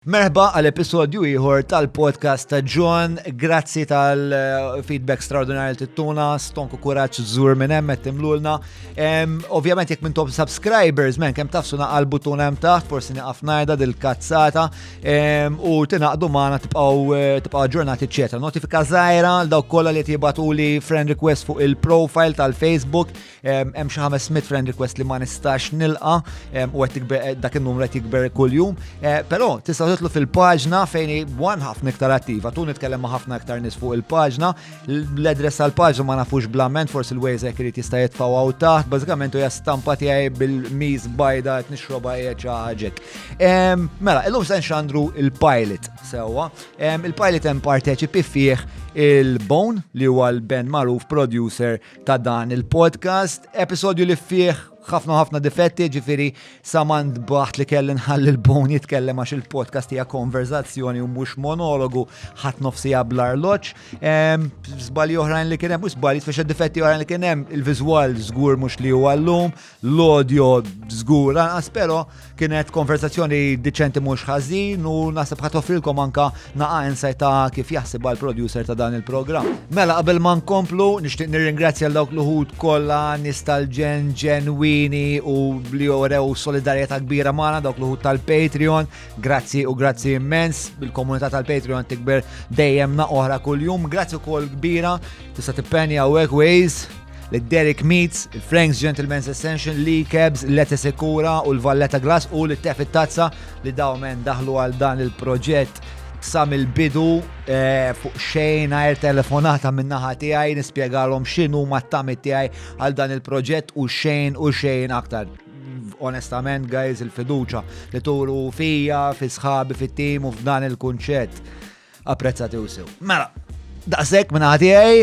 Merħba għal episodju ieħor tal-podcast ta' John. Grazzi tal-feedback straordinarju li tittuna, stonku kuraġġ żur minn hemm qed timlulna. Ovvjament jekk minn top subscribers men kemm tafsu naqal butun hemm taħt, forsi nieqaf ngħidha dil-kazzata u tingħaqdu magħna tibqgħu eh, tibqgħu ġurnati ċeta. Notifika żgħira għal dawk kollha li tibatu li friend request fuq il-profile tal-Facebook hemm xi 500 friend request li ma nistax nilqa u qed eh, dak in-numru qed jikber kuljum. Eh, però tista' titlu fil-paġna fejn wan ħafna iktar attiva, tu nitkellem ma' ħafna iktar nies fuq il-paġna, l-adress tal-paġna ma nafux blament, forsi l-Waze jekk irid jista' jitfgħu għaw taħt, bażikament hija stampa tiegħi bil-miż bajda qed nixroba hija xi ħaġek. Mela, illum se nxandru il-pilot sewwa. Il-pilot hemm parteċipi fih il-Bone li huwa l-band magħruf producer ta' dan il-podcast, episodju li fih ħafna ħafna difetti, ġifiri samand baħt li kelli nħalli l-bon jitkellem għax il-podcast hija konverzazzjoni u mhux monologu ħadd nofsi blar loċ. Żbalji oħrajn li kien hemm, u żbalji tfexa difetti oħrajn li kien hemm, il-viżwal żgur mhux li huwa llum, l-audio żgur anqas però kienet konversazzjoni diċenti mhux ħażin u naħseb ħadd offrilkom anka naqa' insight ta' kif jaħsibha l-producer ta' dan il-programm. Mela qabel ma nkomplu, nixtieq nirringrazzja l dawk l-uħud kollha nies tal-ġen ġenwini u li jorew solidarjetà kbira magħna dawk l-uħud tal-Patreon. Grazzi u grazzi immens, bil-komunità tal-Patreon tikber dejjem na oħra kuljum. Grazzi wkoll kbira Tista' tippenja hawnhekk Waze li Derek Meats, il-Frank's Gentleman's Ascension, li Kebs, Lete Sekura u l-Valletta Glass u li tef it-tazza li dawmen daħlu għal dan il-proġett sam il-bidu eh, fuq xejn għajr telefonata minnaħa tiegħi nispjegalhom x'inhu ma t-tamit tiegħi għal dan il-proġett u xejn u xejn aktar onestament, guys, il-fiduċa li turu fija, fi sħabi, fit-tim u f'dan il-kunċett. Apprezzati u sew. Mela, daqshekk minn għadijaj,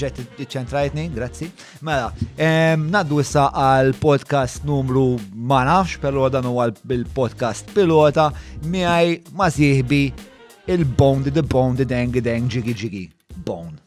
ġet ċentrajtni, grazzi. Mela, naddu issa għal podcast numru ma nafx, pero dan huwa l-podcast pilota miegħi ma sieħbi il-bone the bone the dang dang ġigi ġigi bone.